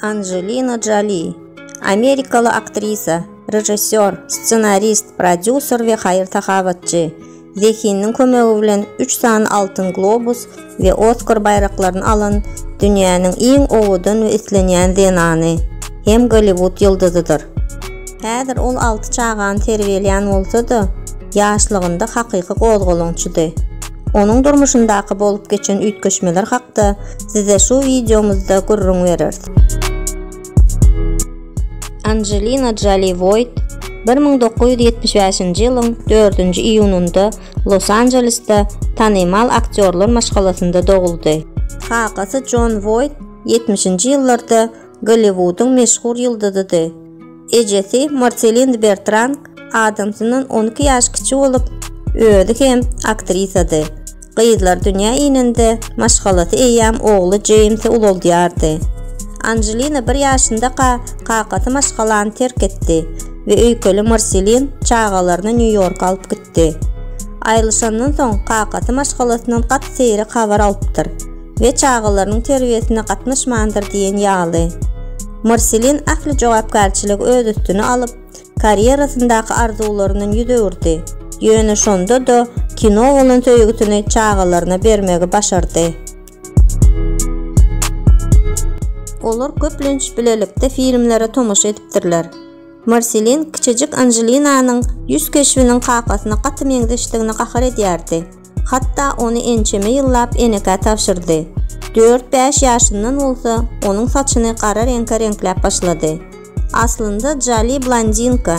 Anjelina Joli, amerikaly aktrisa, režissýor, ssenarist, prodýuser we haýyr-sahawatçy. Zehiniň kömegi bilen üç sany Altyn globus we Oskar baýraklaryny alan dünýäniň iň owadan we islenýän zenany hem Golliwud ýyldyzydyr. Häzir ol alty çagany terbiýelän bolsa-da, ýaşlygynda hakyky gozgalaňçydy. Onuň durmuşyndaky bolup geçen üýtgeşmeler hakda size şu wideomyzda gürrüň bereris. Anjelina Joli Woýt bir müň dokuz ýüz ýetmiş bäşinji ýylyň dördünji iýunynda Los-Anjelesde tanymal aktýorlar maşgalasynda doguldy. Kakasy Jon Woýt ýetmişinji ýyllarda Golliwudyň meşhur ýyldyzydy. Ejesi Marselin Bertrand adamsyndan on iki ýaş kiçi bolup, özi hem aktrisady. Gyzlar dünýä inende, maşgalasy eýýäm ogly Jeýmsi ulaldýardy. Anželina bir ýaşyndaka kakasy maşgalany terk etdi we öýkeli Marselin çagalaryny Nýu-Ýorka alyp gitdi. Ýitdi. Aýrylyşandan soň kakasy maşgalasyndan gaty seýrek habar alypdyr we çagalarynyň terbiýesine gatnaşmandyr diýen ýaly. Marselin ähli jogapkärçiligi öz üstüne alyp, karýerasyndaky arzuwlaryndan ýüz öwürdi, ýöne şonda-da kino bolan söýgüsini çagalaryna bermegi başardy. Olar köplenç bilelikde filmlere tomaşa edipdirler. Marselin kiçijik Anželinanyň ýüz keşbiniň kakasyna gaty meňzeşdigine gahar edýärdi. Hatda ony ençeme ýyllap enekä tabşyrdy. Dört-bäş ýaşyndan bolsa, onuň saçyny gara reňke reňkläp başlady. Aslynda Jali blondinka,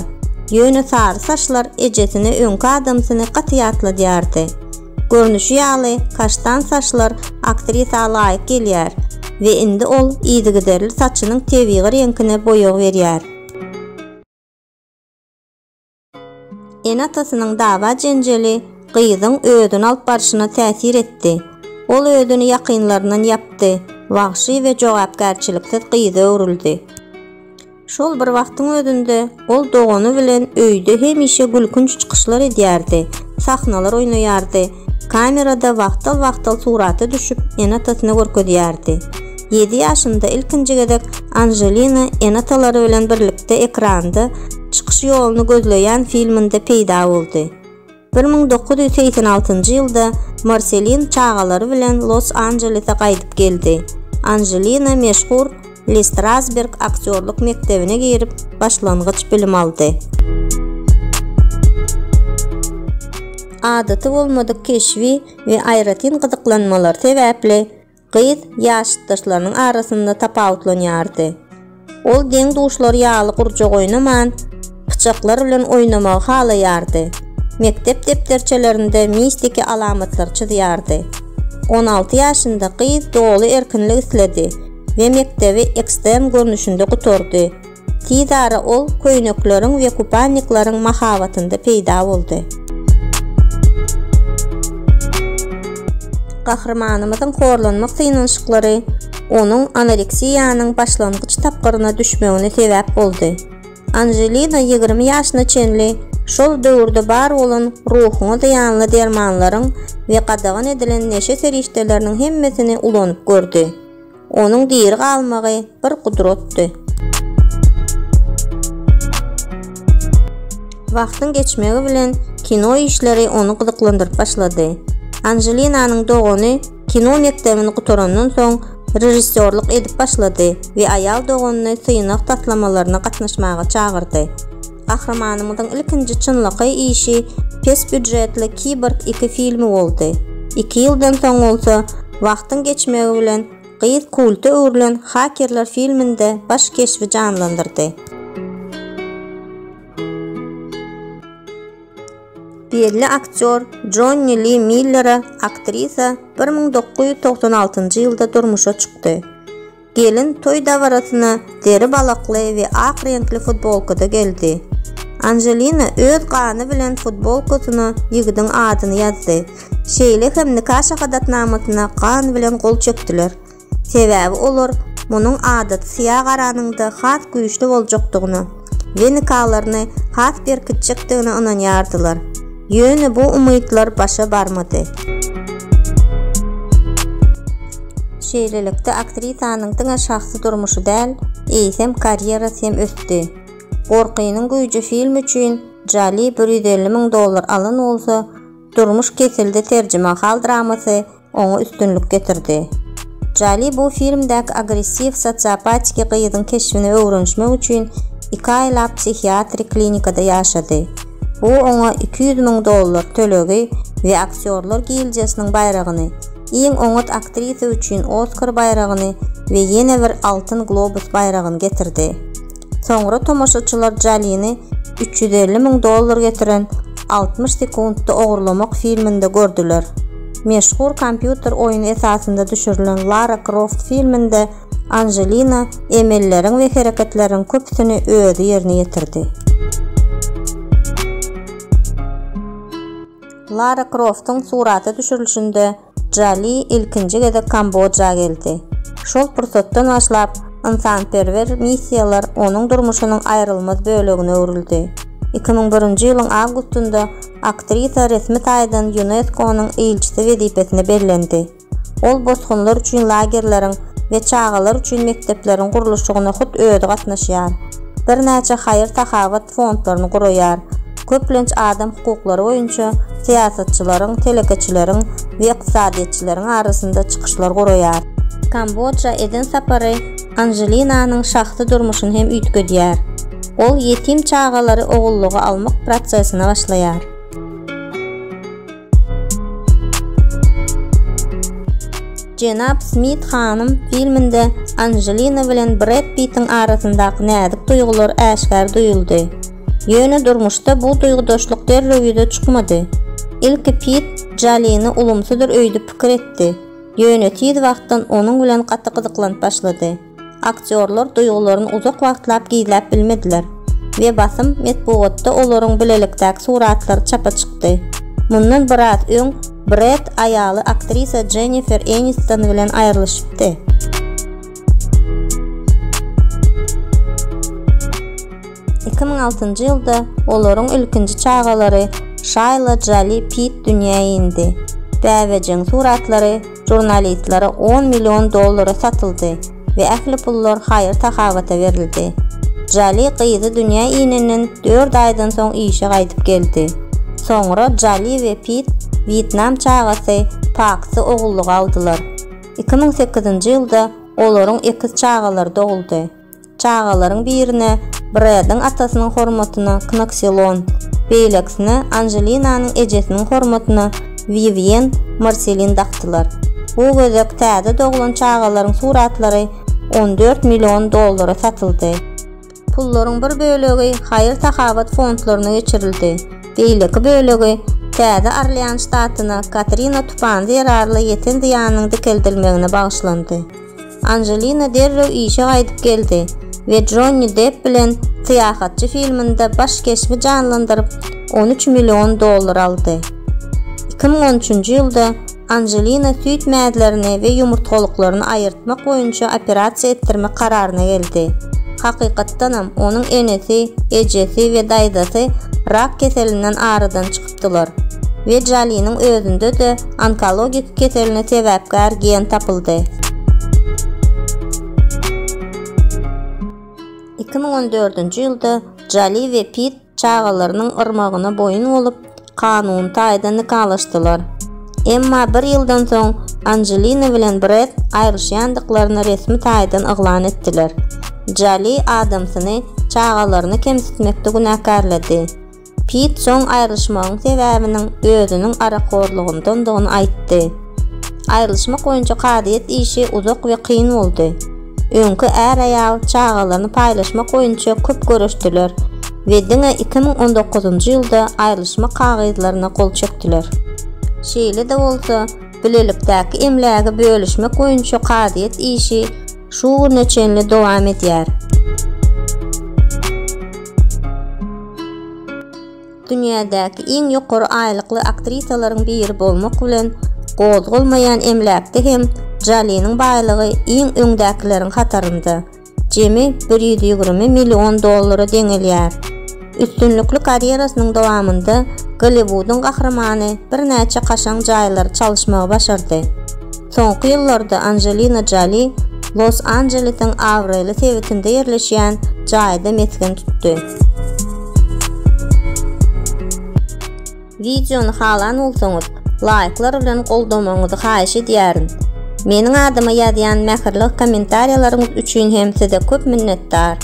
ýöne sary saçlar ejesine öňki adamsyny gaty ýatladýardy. Görnüşi ýaly, kaştan saçlar aktrisa laýyk gelýär we indi ol yzygiderli saçynyň tebigy reňkine boýag berýär. Ene-atasynyň dawa-jenjeli gyzyň özüni alyp barşyna täsir etdi. Ol özüni ýakynlaryndan ýapdy, wagşy we jogapkärçiliksiz gyza öwrüldi. Şol bir wagtyň özünde ol dogany bilen öýde hemişe gülkünç çykyşlar edýärdi, sahnalar oýnaýardy, kamerada wagtal-wagtal surata düşüp, ene-atasyna görkezýärdi. Ýedi ýaşynda ilkinji gezek Anželina ene-atalary bilen birlikde ekranda çykyş ýoluny gözleýän filminde peýda boldy. Bir müň dokuz ýüz segsen altynjy ýylda Marselin çagalary bilen Los-Anjelese gaýdyp geldi. Anželina meşhur Le Strasberg aktýorlyk mekdebine girip, başlangyç bilim aldy. Adaty bolmadyk keşbi we aýratyn gyzyklanmalary sebäpli gyz ýaşytdaşlarynyň arasynda tapawutlanýardy. Ol deň-duşlary ýaly gurjak oýnaman, pyçaklar bilen oýnamagy halaýardy, mekdep depderçelerinde mistiki alamatlary çyzýardy. On alty ýaşynda gyz doly erkinlik isledi we mekdebi ekstern görnüşinde gutardy. Tizara ol köýnekleriň we kupannikleriň mahabatynda peýda boldy. Gahrymanymyzyň horlanmak synanyşyklary onuň anoreksiýanyň başlangyç tapgyryna düşmegine sebäp boldy. Anželina ýigrimi ýaşyna çenli şol döwürde bar bolan ruhuňa zyýanly dermanlaryň we gadagan edilen neşe serişdeleriniň hemmesini ulanyp gördi. Onuň diri galmagy bir gudratdy. Wagtyň geçmegi bilen kino işleri ony gyzyklandyryp başlady. Anjelinanyň dogany kino mekdebini gutarandan soň režissýorlyk edip başlady we aýal doganyny synag taslamalaryna gatnaşmaga çagyrdy. Gahrymanymyzyň ilkinji çynlakaý işi pes býujetli Kiborg iki filmi boldy. Iki ýyldan soň bolsa, wagtyň geçmegi bilen gyz kulta öwrülen Hakerler filminde baş keşbi janlandyrdy. Belli aktýor Jonni Li Millere aktrisa bir müň dokuz ýüz togsan altynjy ýylda durmuşa çykdy. Gelin toý dabarasyna zeri balakly we ak reňkli futbolkada geldi. Anželina öz gany bilen futbolkasyna ýigidiň adyny ýazdy. Şeýle hem nika şahadatnamasyna gan bilen gol çekdiler. Sebäbi olar munuň adaty syýa garanyňda has güýçli boljakdygyna, we nikalaryny has berkitjekdigine ynanýardylar. Ýöne bu umytlar başa barmady. Şeýlelikde, aktrisanyň diňe şahsy durmuşy däl, eýsem, karýerasy hem ösdi. Gorkynyň güýji filmi üçin Joli bir ýüz elli müň dollar alan bolsa, Durmuş kesildi terjimahal dramasy oňa üstünlik getirdi. Joli bu filmdäki agressiw sosiopatiki gyzyň keşbini öwrenişmek üçin iki aýlap psihiatrik klinikada ýaşady. Bu oňa iki ýüz müň dollar tölegi we Aktýorlar gildiýasynyň baýragyny, iň oňat aktrisa üçin Oskar baýragyny we ýene bir Altyn globus baýragyny getirdi. Soňra tomaşaçylar Jolini üç ýüz elli müň dollar getiren Altmyş sekuntda ogurlamak filminde gördüler. Meşhur kompýuter oýny esasynda düşürilen Lara Kroft filminde Anželina emelleriň we hereketleriň köpüsini özi ýerine ýetirdi. Lara Kroftyň surata düşürilişinde Dža Li ilkinji gezek Kambodža geldi. Şol pursatdan başlap, ynsanperwer missiýalar onuň durmuşynyň aýrylmaz bölegine öwrüldi. Iki müň birinji ýylyň awgustynda aktrisa resmi taýdan ÝUNESKO-nyň ilçisi wezipesine bellendi. Ol bosgunlar üçin lagerleriň we çagalar üçin mekdepleriň gurluşygyna hut özi gatnaşýar. Birnäçe haýyr-sahawat fondlaryny guraýar. Köplenç adam hukuklary boýunça syýasatçylaryň, telekeçileriň we ykdysadyýetçileriň arasynda çykyşlar guraýar. Kambodja eden sapary Anželinanyň şahsy durmuşyny hem üýtgedýär. Ol ýetim çagalary ogullyga almak prosesine başlaýar. Jenap Smit hanym filminde Anjelina bilen Bred Pittiň arasyndaky näzik duýgular äşgär duýuldy. Ýöne durmuşda bu duýgudaşlyk derrew ýüze çykmady. Ilki Pitt Jalini ulumsydyr öýdüp pikir etdi. Ýöne tiz wagtdan onuň bilen gaty gyzyklanyp başlady. Aktýorlar duýgularyny uzak wagtlap gizläp bilmediler we basym metbugatda olaryň bilelikdäki suratlary çapa çykdy. Mundan biraz öň Bred aýaly aktrisa Jennifer Eniston bilen aýrylyşypdy. Iki müň altynjy ýylda olaryň ilkinji çagalary Şaýla Jali Pit dünýä indi. Bäbejiň suratlary žurnalistlere on million dollara satyldy we ähli pullar haýyr-sahawata berildi. Jali gyzy dünýä inenden dört aýdan soň işe gaýdyp geldi. Soňra Jali we Pit wýetnam çagasy Paksy ogullyga aldylar. Iki müň sekizinji ýylda olaryň ekiz çagalary doguldy. Çagalaryň birine Brediň atasynyň hormatyna Knokselon, beýlekisine Anželinanyň ejesiniň hormatyna Wiwýen Marselin dakdylar. Bu gezek täze doglan çagalaryň suratlary on dört million dollara satyldy. Pullaryň bir bölegi haýyr-sahawat fondlaryna geçirildi, beýleki bölegi Täze Orlean ştatyna Katrina tupany zerarly ýeten zyýanyň dikeldilmegine bagyşlandy. Anjelina derrew işe gaýdyp geldi we Jonni Depp bilen Syýahatçy filminde baş keşbi janlandyryp, on üç million dollar aldy. Iki müň on üçünji ýylda Anjelina süýt mäzlerini we ýumurtgalyklaryny aýyrtmak boýunça operasiýa etdirmek kararyna geldi. Hakykatdanam, onuň enesi, ejesi we daýzasy rak keselinden aradan çykypdy. tapdylar. Wejaliniň özünde-de onkologik keseline sebäpkär gen tapyldy. Iki müň on dördünji ýylda Jali we Pitt çagalarynyň yrmagyna boýun bolup, kanuny taýdan nikalaşdylar. Emma bir ýyldan soň Anjelina bilen Bred aýryşýandyklaryny resmi taýdan yglan etdiler. Jali Adamsyny çagalaryny kemsitmekde günäkärledi. Pit soň aýrylyşmagyň sebäbiniň özüniň arakhorlygyndandygyny aýtdy. Aýrylyşmak boýunça kazyýet işi uzak we kyn boldy. Öňki är-aýal çagalaryny paýlaşmak boýunça köp göreşdiler we diňe iki müň on dokuzynjy ýylda aýrylyşmak kagyzlaryna gol çekdiler. Şeýle-de bolsa, bilelikdäki emlägi bölüşmek boýunça kazyýet işi şu güne çenli dowam edýär. Dünýädäki iň ýokary aýlykly aktrisalaryň biri bolmak bilen, gozgalmaýan emläkde hem Joliniň baýlygy iň öňdäkileriň hatarynda, jemi bir ýüz ýigrimi million dollara deňelýär. Üstünlikli karýerasynyň dowamynda Golliwudyň gahrymany birnäçe kaşaň jaýlary çalyşmagy başardy. Soňky ýyllarda Anjelina Joli Los-Anjelesiň abraýly sebitinde ýerleşýän jaýda mesgen tutdy. Wideony halan bolsaňyz laýklar bilen goldamagyňyzy haýyş edýärin. Meniň adyma ýazýan mähirli kommentariýalaryňyz üçin hem size köp minnetdar.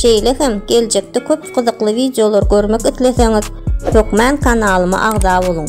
Şeýle hem geljekde köp gyzykly wideolar görmek isleseňiz hökman kanalyma agza boluň.